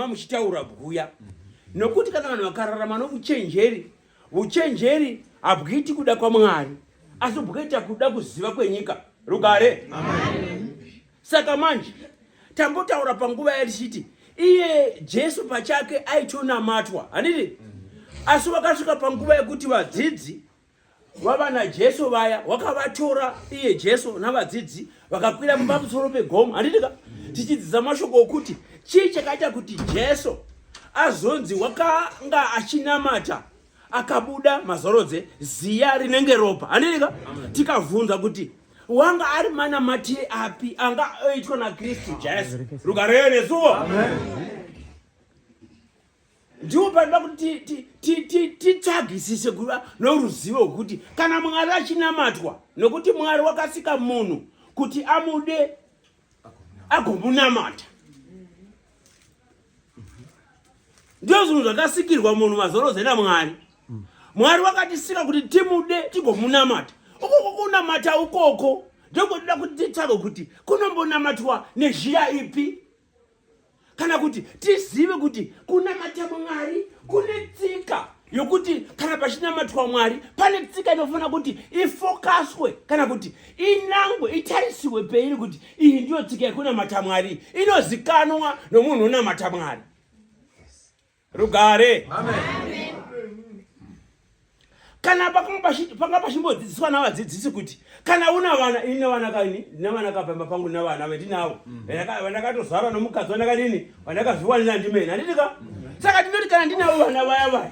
muchitaura bwuya nokuti kana vanhu vakararama nouchenjeri uchenjeri habwuiti kuda kwamwari asi bwukaita kuda kuziva kwenyika rugare saka manje tambotaura panguva yatichiti iye jesu pachake aitonamatwa hanidi asi wakasvika panguva yekuti vadzidzi wavanajesu vaya wakavatora iye jesu navadzidzi vakakwira pamusoro pegomo handitika tichidzidza mashoko okuti chii chakaita kuti jesu azonzi wakanga achinamata akabuda mazorodze ziya rinenge ropa handitika tikavhunza kuti wanga ari manamatire api anga oitwa nakristu jesu rukareyo nesuwo ndiwo panoda kuti titsvagisise kuva noruzivo rwekuti kana mwari achinamatwa nokuti mwari wakasika munhu kuti amude agomunamata ndiyo zvinhu zvakasikirwa munhu mazoroze namwari mwari wakatisika kuti timude tigomunamata ukoko kunamata ukoko ndokuda kuti titsvage kuti kunombonamatwa nezhira ipi kana kuti tizive kuti kunamata mwari kune tsika yokuti kana pachinamatwa mwari pane tsika inofanira kuti ifokaswe kana kuti inangwe itarisiwe peiri kuti iyi ndiyo tsika yekunamata mwari inozikanwa nomunhu unamata mwari rugare kana panga pachimbodzidziswa navadzidzisi kuti kana una vana ini nevana kaini nevana kapamba pangu nevana vendinavo mm. vandakatozvarwa nomukadzi wandakadini vandakazviwanira ndimene handitika mm. saka tinoti kana ndinavo vana vaya vaya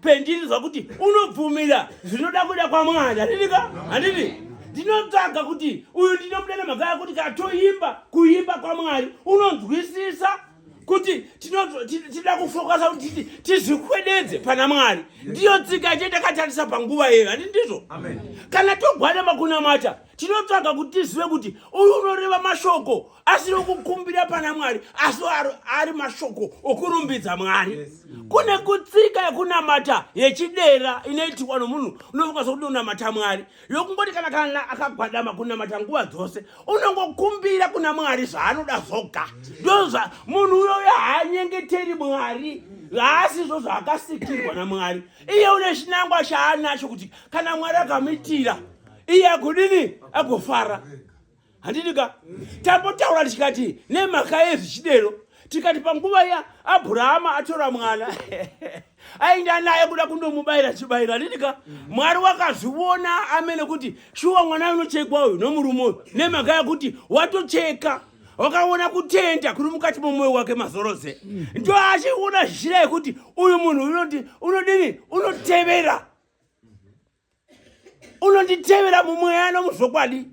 pendinzwa kuti unobvumira zvinoda kuda kwamwari handinika handiti ndinotsvaga kuti uyu ndinomuda nemhaka yakuti katoimba kuimba kwamwari unonzwisisa kuti tinoda kufokasa kuti titi tizvikwededze pana mwari ndiyo tsika yate takatarisa panguva yeyo handi ndizvo kana togwadama kunamata tinotsvaga kuti tizive kuti uyu unoreva mashoko asi rokukumbira pana mwari asi ari mashoko okurumbidza mwari kune kutsika yekunamata yechidera inoitirwa nomunhu unokwanisa kuti unamata mwari yokungoti kana kana akagwadama kunamata nguva dzose unongokumbira kuna mwari zvaanoda zvoga ndozva munhu uyoyo haanyengeteri mwari haasi zvo zvaakasikirwa namwari iye une chinangwa chaanacho kuti kana mwari akamitira iye akudini agofara handiti ka tambotaura tikati nemhaka yezvichidero tikati panguva ya abhurahama atora mwana ainda naye kuda kundomubayira chibayiro handiti ka mwari wakazviona amene kuti shuwa mwana unochekwa uyu nomurume uyu nemhaka yekuti watocheka wakaona kutenda kuri mukati momwoyo wake mazoroze ndo achiona zhira yekuti uyu munhu unoti unodini unotevera unonditevera mumweya nomuzvokwadi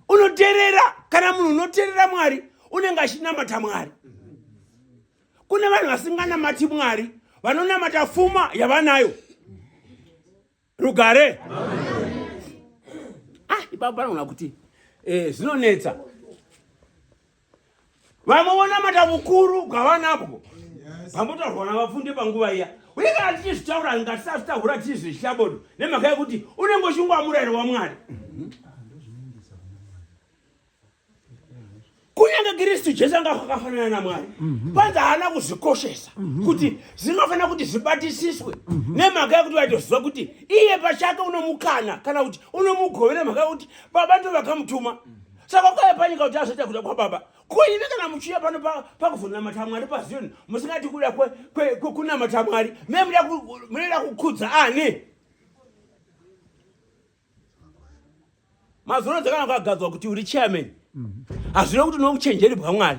unoterera kana munhu unoterera mwari unenge achinamata mwari kune vanhu vasinganamati mwari vanonamata fuma yavanayo rugare ah, ipapo panoona kuti eh, zvinonetsa vamwe vonamata vukuru bwavanabwo pambotaurwa navapfundi panguva iya uye kana tichizvitaura ngatisazvitaura tiri zvechishabodo nemhaka yekuti unenge uchingova murayiro wamwari kunyange kristu jesu anga akafanana namwari panzi haana kuzvikoshesa kuti zvinofanira kuti zvibatisiswe nemhaka yekuti vaitoziva kuti iye pachake unomukana kana kuti unomugovera mhaka yekuti baba ndo vakamutuma saka kwaya panyika kuti azoita kuda kwababa kuive kana muchiya pano pakuzonamata mwari pazioni musingati kuda kunamata mwari me munoda kukhudza ani mazono dzakana kwagadzwa kuti uri chairman hazvina kuti nokuchenjeri bwamwari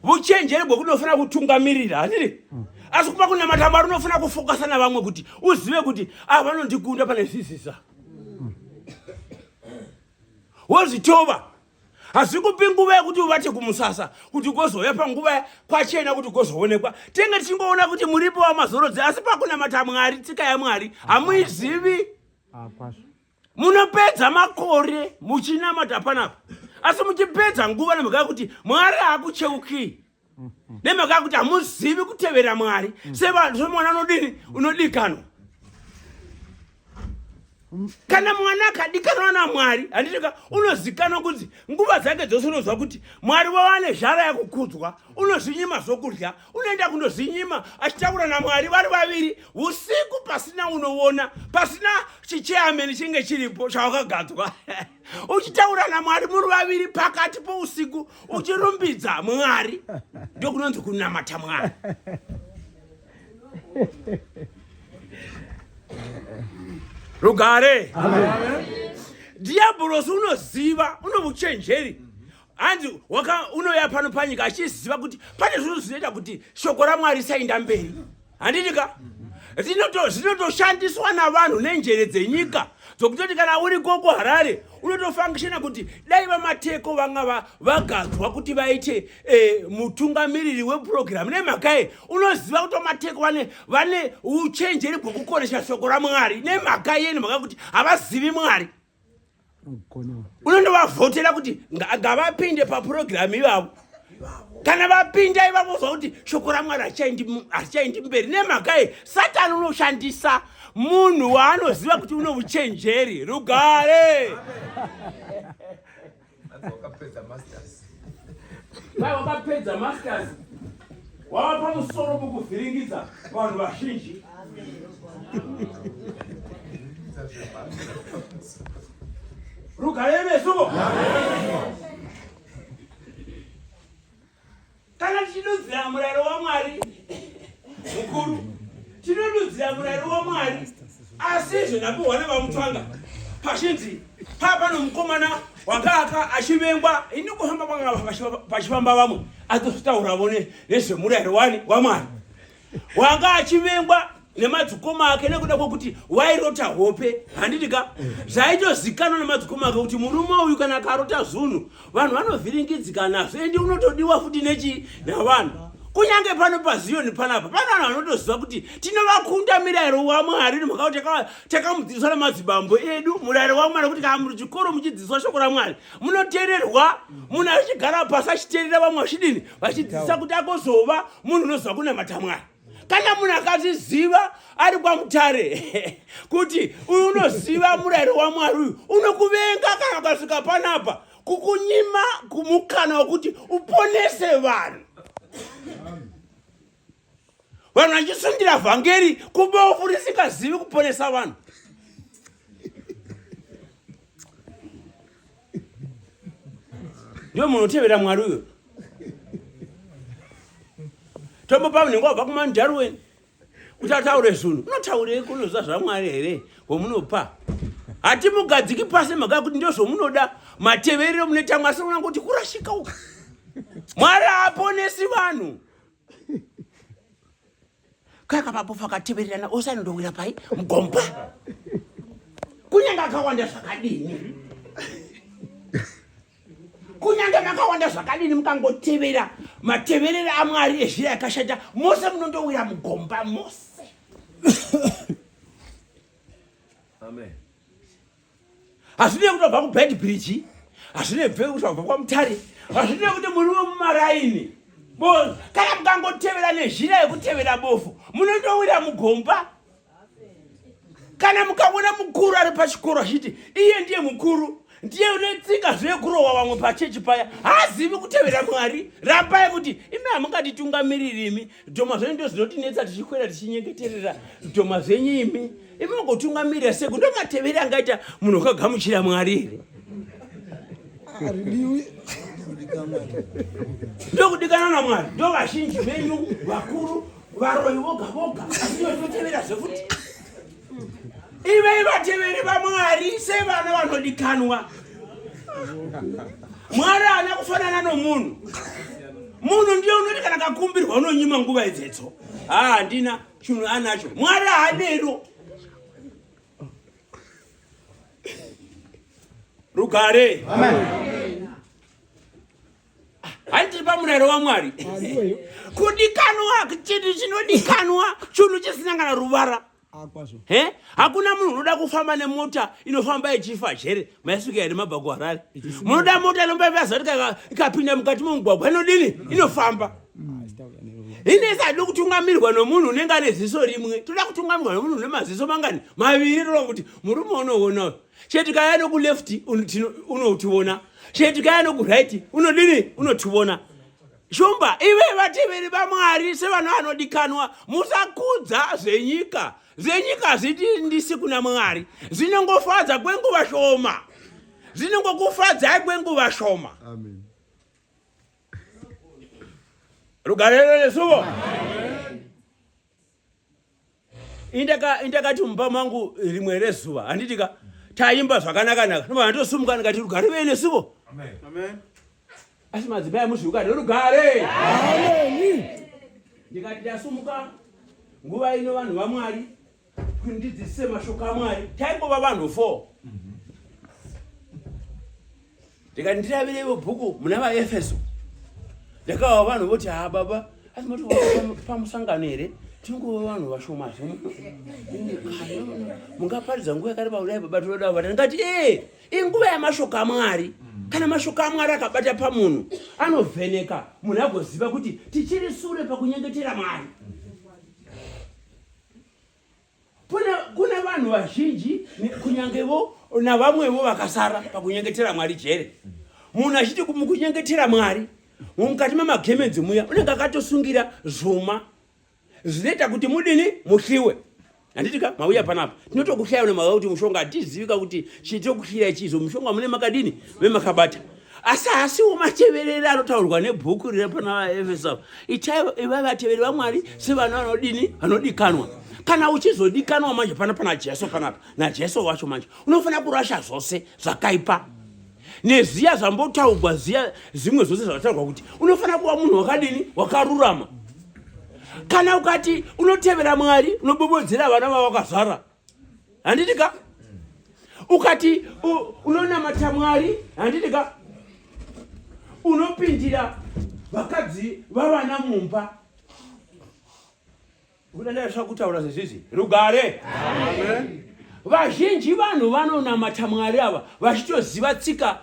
vuchenjeri bwe kunofanira kutungamirira handiri asi kupa kunamata mwari unofanira kufokasa navamwe kuti uzive kuti ava ah, vanondikunda pane zvisisa wozvitova hazvi kupi nguva yekuti uvate kumusasa kuti gozouya panguva kwachena kuti gozoonekwa tenge tichingoona kuti muripo wamazorodzi asi pakunamata mwari tsika yamwari hamuizivi ah, munopedza makore muchinamata panapa asi muchipedza nguva nemhaka yekuti mwari haakucheukii nemhaka yekuti hamuzivi kutevera mwari semwana unodini unodikanwa kana mwana akadikanwa namwari handitika unozikanwa kunzi nguva dzake dzose unozwa kuti mwari wavane zhara yakukudzwa unozvinyima zvokudya unoenda kundozinyima achitaura namwari vari vaviri usiku pasina unoona pasina chicheameni chinge chiripo chawakagadzwa uchitaura namwari muri vaviri pakati pousiku uchirumbidza mwari ndokunonzi kunamata mwari rugare dhiyabhorosi unoziva unovuchenjeri hanzi waka unoya pano panyika achiziva kuti pane zvinhu zvinoita kuti shoko ramwari risainda mberi handiti ka zvinotoshandiswa navanhu nenjere dzenyika dzokutoti kana uri koko harare unotofangishena kuti dai vamateko vanga vagadzwa kuti vaite eh, mutungamiriri wepurogiramu nemhakaye unoziva kuti vamateko vane vane uchenjeri bwekukoresha shoko ramwari nemhaka yeni mhaka kuti havazivi mwari unondovavhotera kuti ngavapinde papurogiramu ivavo kana vapinda ivavo zva kuti shoko ramwari harichaindi mberi nemhakayi satani unoshandisa munhu waanoziva kuti une uchenjeri rugare Dai wakapedza masters wava pamusoro pokuvhiringidza vanhu vazhinji. Rugare meso. kana tichidudzira murayiro wamwari mukuru tinodudzira murayiro wamwari asi izvo ndapuhwa nevamutwanga pachinzi paa pano mukomana wakaaka achivengwa ini kuhamba kwanga pachifamba vamwe atozvitaura vone nezvemurayiro wani wamwari wanga achivengwa nemadzikoma ake nekuda kwekuti wairota hope handiti ka zvaitozikanwa nemadzikoma ake kuti murume uyu kana akarota zvunhu vanhu vanovhiringidzika nazvo endi unotodiwa futi nechii navanhu kunyange pano paziyoni panapa pane vanhu vanotoziva kuti tinovakunda mirayiro wamwari nemhakakuti takamudzidziswa namadzibambo edu murayiro wamwari kuti kana muri chikoro muchidzidziswa shoko ramwari munoteererwa munhu achigara pasi achiteerera vamwe vachidini vachidzidzisa kuti agozova munhu unoziva kunamata mwari kana munhu akazviziva ari kwamutare kuti uyu unoziva murayiro wamwari uyu unokuvenga kana ukasvika panapa kukunyima kumukana wekuti uponese vanhu vanhu vachisundira vhangeri kubofu risingazivi kuponesa vanhu ndiyo munhu otevera mwari uyo tombopa munenge wabva kumanjaru weni kuti ataure zvunhu unotaurei kunoziva zvamwari here womunopa hatimugadziki pasi mhaka kuti ndo zvomunoda mateverero munoita mwasi unanga kuti kurashika uka mwari aponesi vanhu kaya kamapofu akatevererana ose anondowira pai mugomba kunyange akawanda zvakadini kunyange makawanda zvakadini mukangotevera mateverere amwari ezvira yakashata mose munondowira mugomba mose amen hazvinei kuti wabva kubad bridge hazvinei bve kuti wabva kwamutare hazvinei kuti muri wemumaraini bono kana mukangotevera nezhira yekutevera bofu munotowira mugomba kana mukaona mukuru ari pachikoro achiti iye ndiye mukuru ndiye unetsika zvekurohwa vamwe pachechi paya haazivi kutevera mwari rambai kuti imi hamungatitungamiriri imi Dhoma zvenyu ndo zvinotinetsa tichikwera tichinyengeterera dhoma zvenyu imi imi magotungamirira seku ndo mateveri angaita munhu ukagamuchira mwari here ndokudikana namwari ndo vazhinji venyu vakuru varoyi voga voga asi ndotinotevera zvekuti ivei vateveri vamwari sevana vanodikanwa mwari haana kufanana nomunhu munhu ndiye unoti kana kakumbirwa unonyima nguva idzetso haa handina chinhu anacho mwari haanero rugare Amen. handiripa murayiro wamwari kudikanwa chinhu chinodikanwa chunhu chisina kana ruvara he hakuna munhu unoda kufamba nemota inofamba ichifa chere maisuka here mabva kuharare munoda mota inomba ivaza kuti ikapinda mukati momugwagwa inodini inofamba ine isadi kutungamirwa nomunhu unenge ane ziso rimwe toda kutungamirwa nomunhu une maziso mangani maviri tona kuti murume unoona chete kaya nokuleft unotiona chete kaya nokuright unodini unotiona shumba ive vateveri vamwari sevanhu vanodikanwa musakudza zvenyika zvenyika zitindisi kuna mwari zinongofadza kwenguva shoma zinongokufadzai kwenguva shoma rugarero nesuvo indakati mumba mangu rimwe rezuva handiti ka taimba zvakanakanaka nobva ndotosumuka ndikati rugare vei nesuvo asi madzimai muzviuka nerugare ndikati ndasumuka nguva ino vanhu vamwari kuti ndidzidzise mashoko amwari taingova vanhu four ndikati ndiravirevo bhuku muna vaefeso ndakawa vanhu voti ha baba asi moti pamusangano here tingova vanhu vashoma zve mungaparidza nguva yakareba kudai baba tinoda kuvata ndikati ee inguva yamashoko amwari kana mashoko amwari akabata pamunhu anovheneka munhu agoziva kuti tichiri sure pakunyengetera mwari Kuna vanhu vazhinji kunyangevo navamwevo vakasara pakunyengetera Mwari jere. Munhu achiti mukunyengetera Mwari mukati memagemenzi muya unenge akatosungira zvuma zvinoita kuti mudini muhliwe handitika mauya panapa tinotokuhlaya unemaka kuti mushonga hatizivika kuti chitokuhlira chizo mushonga mune makadini vemakabata asi hasiwo matevereri anotaurwa nebhuku riri pana vaefesa itaivo iva vateveri vamwari sevana vanodini vanodikanwa kana uchizodikanwa manje pana pana jesu panapa najesu wacho manje unofanira kurasha zvose zvakaipa neziya zvambotaurwa ziya zimwe zvose zvataurwa kuti unofanira kuva munhu wakadini wakarurama kana ukati unotevera mwari unobobodzera vana vavakazvara handiti ka ukati unonamata mwari handiti ka unopindira vakadzi vavana mumba udandaisva kutaura zvezvizvi rugare vazhinji vanhu vanonamata mwari ava vachitoziva tsika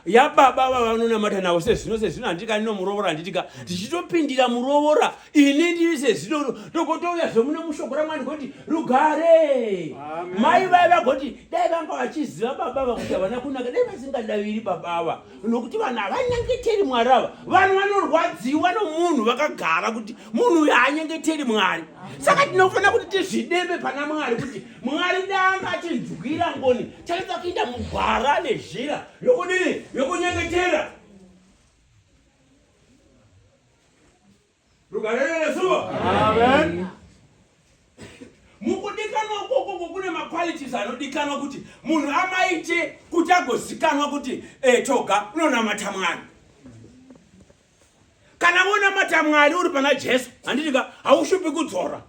yababa vavanonamata navo sezvino sezvino handitika ndinomurovora handitika tichitopindira murovora ini ndiri sezidoro ndokotouya zvemuno mushoko ramwani kuti rugare mai vaya vagoti dai vanga vachiziva baba ava kuti havana kunaka dai vasingadaviri baba ava nokuti vanhu havanyengeteri mwari ava vanhu vanorwadziwa nomunhu vakagara kuti munhu uyo haanyengeteri mwari saka tinofanira kuti tizvideme pana mwari kuti mwari danga achinzwira ngoni taita kuinda mugwara nezhira yokudini yokunyengetera Amen. Mukudikanwa ukoko kune maqualities anodikanwa kuti munhu amaite kuti agozikanwa kuti eh, toga unonamata Mwari. Kana wonamata Mwari uri pana Jesu, handiti ka haushupi kudzora.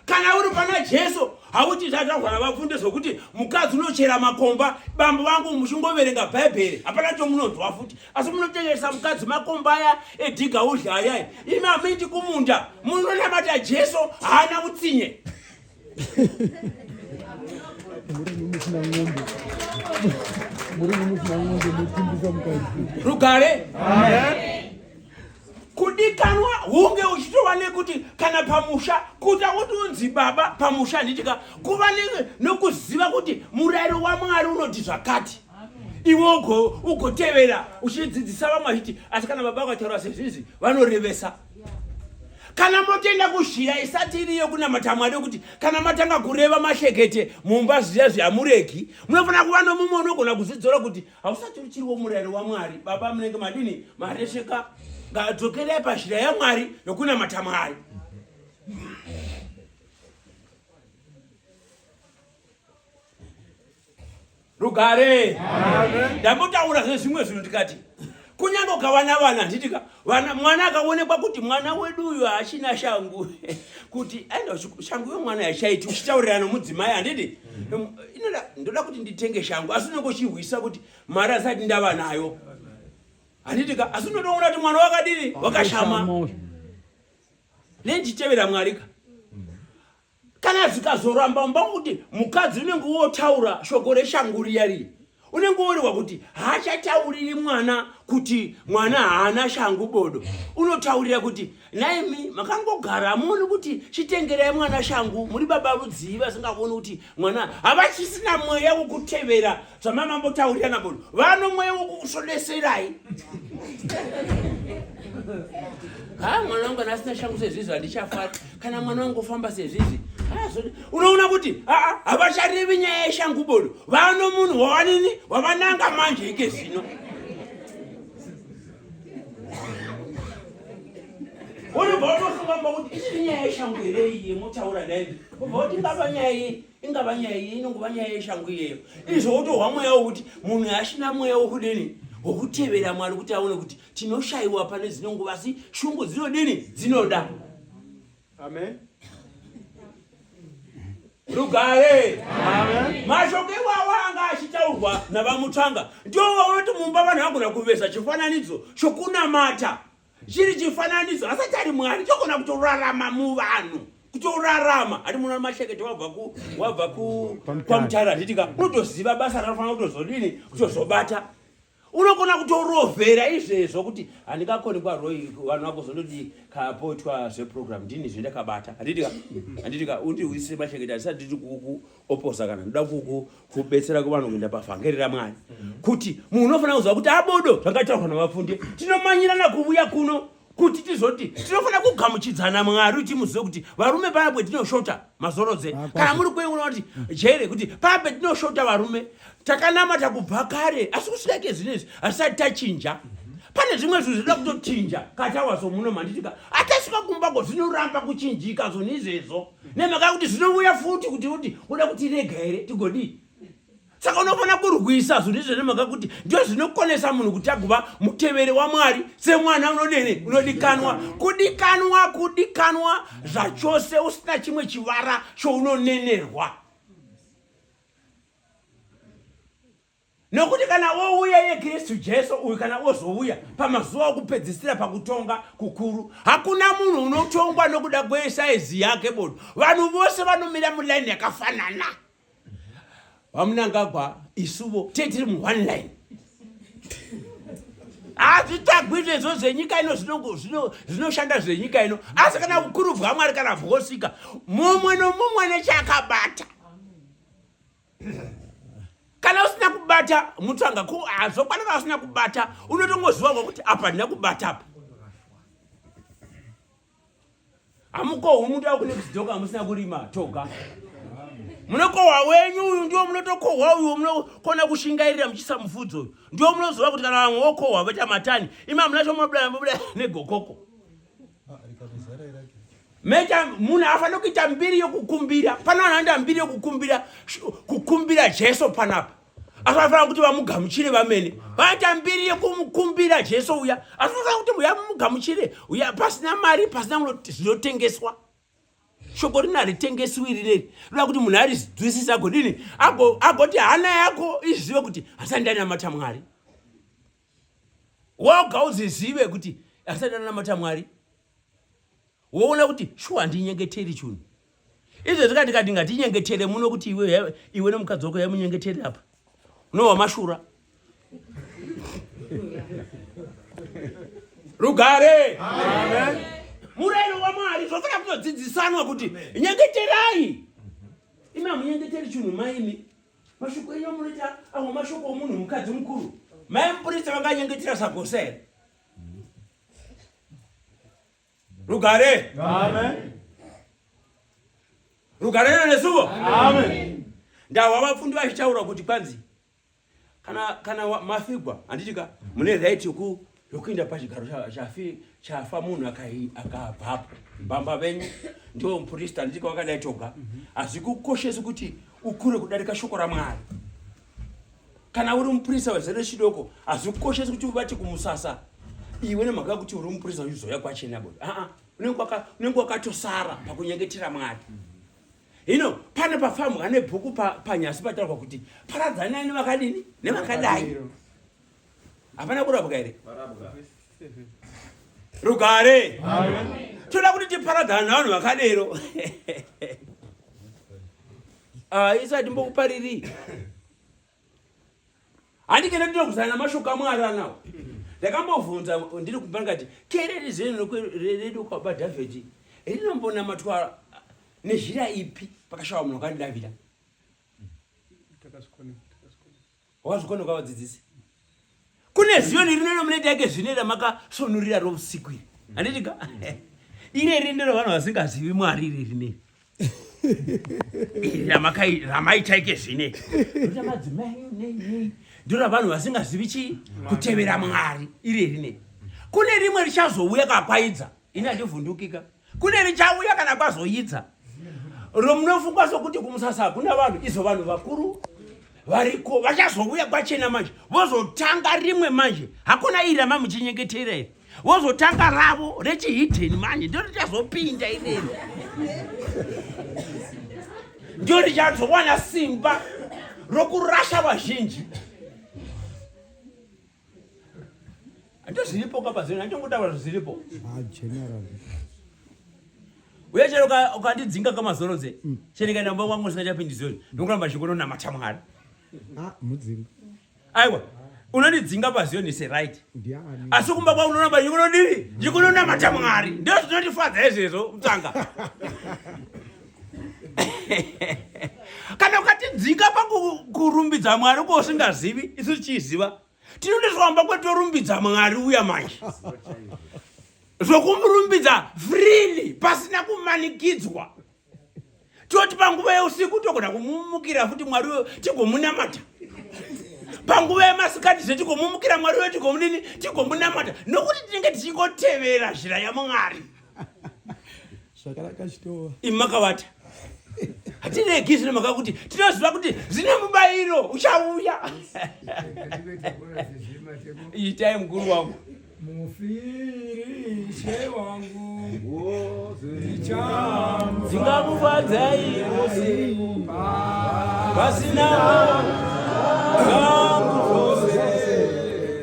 kana uri pana jesu hauti zvadzvagwara vapfunde zvokuti mukadzi unochera makomba bambo vangu muchingoverenga bhaibheri hapana chomunonzwa futi asi munotengeresa mukadzi makomba aya edhiga udya ayai imi hamuiti kumunda munonamata jesu haana utsinye rugare kudikanwa hunge uchitova nekuti kana pamusha kuta kuti unzi baba pamusha handitika kuva nokuziva kuti murayiro wamwari unoti zvakati iwe ugotevera uchidzidzisa vamwe vachiti asi kana baba vakataura sezvizi vanorevesa kana motenda kuzhira isati iriyo kunamata mwari yokuti kana matanga kureva mashekete mumba zviya zvihamuregi munofanira kuva nomumwe unogona kuzvidzora kuti hausati uchiriwo murayiro wamwari baba munenge madini maresheka ngadzokerai pazhira yamwari yokunamata mwari rugare ndambotaura zvezvimwe zvinhu ndikati kunyange ukawana vana handitika vana mwana akaonekwa kuti mwana wedu uyu haachina shangu kuti aenda shangu yomwana yachaiti uchitaurira nomudzimai handiti mhm. inoda ndoda kuti nditenge shangu asi unenge uchihwisa kuti mari asati ndava nayo handitika asi unotoona kuti mwana wakadini wakashama nenditevera mwarika kana zvikazoramba mba kuti mukadzi unenge wotaura shoko reshangu riya riye unenge worehwa kuti haachatauriri mwana kuti mwana haana shangu bodo unotaurira kuti naimi makangogara hamuoni kuti chitengerai mwana shangu muri baba rudzii vasingavoni kuti mwana havachisina mweya wokutevera zvamai mambotaurira nabon vano mweya wokukusodeserai ha mwana wangu anasina shangu sezvizvi handichafara kana mwana wangu ofamba sezvizvi unoona kuti aa havacharevi nyaya yeshangu bodo vano munhu wavanini wavananga manje ike zvino unobva unofunga mba kuti ichiri nyaya yeshangu here iye motaura naye ubva kuti ngava nyaya yei ingava nyaya iye inongova nyaya yeshangu iyeyo izvo wotohwa mweya wokuti munhu ashina mweya wokudini wokutevera mwari kuti aone kuti tinoshayiwa pane dzino nguva asi shungu dzinodini dzinoda amen rugare mashoko iwawa anga achitaurwa navamutsvanga ndiwo waunoti mumba vanhu vagona kuvesa chifananidzo chokunamata chiri chifananidzo asati ari mwari chogona kutorarama muvanhu kutorarama hati muno mashekete wabva ku wabva ku kwamutara handitika unotoziva basa ranofanira kutozodini kutozobata unogona kutorovhera izvezvo kuti handikakoni kwaroi vanhu vakuzondodii kapoitwa zveprogram ndini zvendakabata handitika handitika undi uise mashekete handisati nditi kuku oposa kana ndoda kubetsera kuvanhu kuenda pavhangeri ramwari mhm. kuti munhu unofanira kuziva kuti abodo zvangataurwa navafunde tinomanyirana kuvuya kuno kuti tizoti tinofanira kugamuchidzana mwari kuti muzive kuti varume paya petinoshota mazorodze ah, kana muri kueona kuti jere kuti paya petinoshota varume takanamata kubva kare asi kusikaike zvinhu izvi hatisati tachinja pane zvimwe zvinhu zvinoda kutochinja katawaso muno manditika atasvika kumba ko zvinoramba kuchinjika zvoni izvezvo nemhaka yekuti zvinouya futi kuti kuti uda kuti rega here tigodii saka unofanira kurwisa zvinhu izvo nemhaka yekuti ndio zvinokonesa munhu kuti agova muteveri wamwari semwana unodene unodikanwa kudikanwa kudikanwa zvachose usina chimwe chivara chounonenerwa nokuti kana wouya iye kristu jesu uyu kana wozouya pamazuva okupedzisira pakutonga kukuru hakuna munhu unotongwa nokuda kwesaizi yake bodo vanhu vose vanomira mulaini yakafanana vamunangagwa isuvo tee tiri muone line hazvitagwi zvezvo zvenyika ino zvinoshanda zvenyika ino asi kana ukuru bwamwari kana bwosika mumwe nomumwe nechakabata kana usina kubata mutsvanga ko hazvokwana kana usina kubata unotongoziva kwa kuti apa ndina kubata apa hamukohwi muti akune kuzidoka hamusina kurima toga munokohwa wenyu uyu ndiwo munotokohwa uyu munokona kushingairira muchiisa mufudzi uyu ndiwo munoziva kuti kana vamwe vokohwa voita matani imi hamunacho munobuda negokoko mecha munhu afanira kuita mbiri yokukumbira pane vanhu anoita mbiri yokukumbira kukumbira jesu panapa asi vanofanira kuti vamugamuchire vamene vaita mbiri yekumukumbira jesu uya asi vanofanira kuti uya mumugamuchire uya pasina mari pasina zvinotengeswa shoko rino haritengesiwi rineri rinoda kuti munhu arizwisisa agodini agoti hana yako izive kuti handisani ndainamata mwari woga uzizive kuti asati anamata mwari woona kuti shuwa handinyengeteri chunhu izvo zvikati kati ngatinyengetere muno kuti iwe iwe nemukadzi wako yaimunyengetere apa unowa mashura rugare murayiro wamwari zvofana kunodzidzisanwa kuti nyengeterai imi hamunyengeteri chunhu maimi Mashoko enyu amunoita amwe mashoko omunhu mukadzi mukuru. Mai muprista vakanyengetera sagosa here? Rugare. Amen. Rugare rino nesuvo. Amen. Ndahwa vafundi vachitaura kuti kwanzi kana kana mafigwa handitika mune right yoku yokuinda pachigaro chafi chafa munhu akabvapo bamba venyu ndiwo mupurista handitika wakadai toga hazvi kukoshesi kuti ukure kudarika shoko ramwari kana uri mupurisa wezere chidoko hazvi kukoshesi kuti uvati kumusasa iwe nemhaka kuti uri mupurisa uchizoya kwachena bo aa unenge wakatosara pakunyengetera mwari hino pane pafambwa nebhuku panyasi pataurwa kuti paradzanai nevakadini nevakadai hapana kurapwa here rugare toda kuti tiparadzana navanhu vakadero ah, isu hatimbokupariri handikenda ndinogusana namashoko amwari anawo ndakambobvunza ndiri kumba ndikati kereri zeno redu kwaba dhavhidhi rinombonamathwa nezhira ipi pakashawa munhu wakandidavira Wazvikona kwa vadzidzisi. Kune ziyo nirino nomunoita yake zvine ramakasonurira rousiku iri. Handitika? Ine iri ndiro vanhu vasingazivi Mwari iri rine. Ramakai ramaita yake zvine. Ndiro madzimai nei nei. Ndiro vanhu vasingazivi chi kutevera Mwari iri rine. Kune rimwe richazouya kakwaidza. ini handivhundukika kune richauya kana kwazoyidza romunofunga sokuti kumusasa hakuna vanhu izvo vanhu vakuru variko vachazouya kwachena manje vozotanga rimwe manje hakuna iri ramamuchinyengetera iri vozotanga ravo rechihidheni manje ndo richazopinda irero ndo richazowana simba rokurasha vazhinji Ndo zviripo kapa zvinhu ndongotaura zviripo. Ah general. Uye chero ukandidzinga kama zoro dze. Mm. Chero kana mba wangu usingachapindi zoro. Ndokuramba chikono na matamwari. Ah mudzinga. Aiwa. Unondidzinga pa zone is right. Ndiani. Asi kumba kwa unoramba chikono ndiri. Chikono na matamwari. Ndio zvinotifadza izvezvo mtanga. kana ukatidzinga pakurumbidza mwari ko usingazivi isu tichiziva tinode zvamba kwetorumbidza mwari uya manje zvokumurumbidza freely pasina kumanikidzwa toti panguva yeusiku togona kumumukira futi mwari uyo tigomunamata panguva yemasikati zve tigomumukira mwari uyo tigomunini tigomunamata nokuti tinenge tichingotevera zhira yamwari zvakanaka chitova imi makavata hatiregi zvine mhaka kuti tinoziva kuti zvine mubayiro uchauya itai mukuru wangu mufirishe wangu ndingamufadzai vasina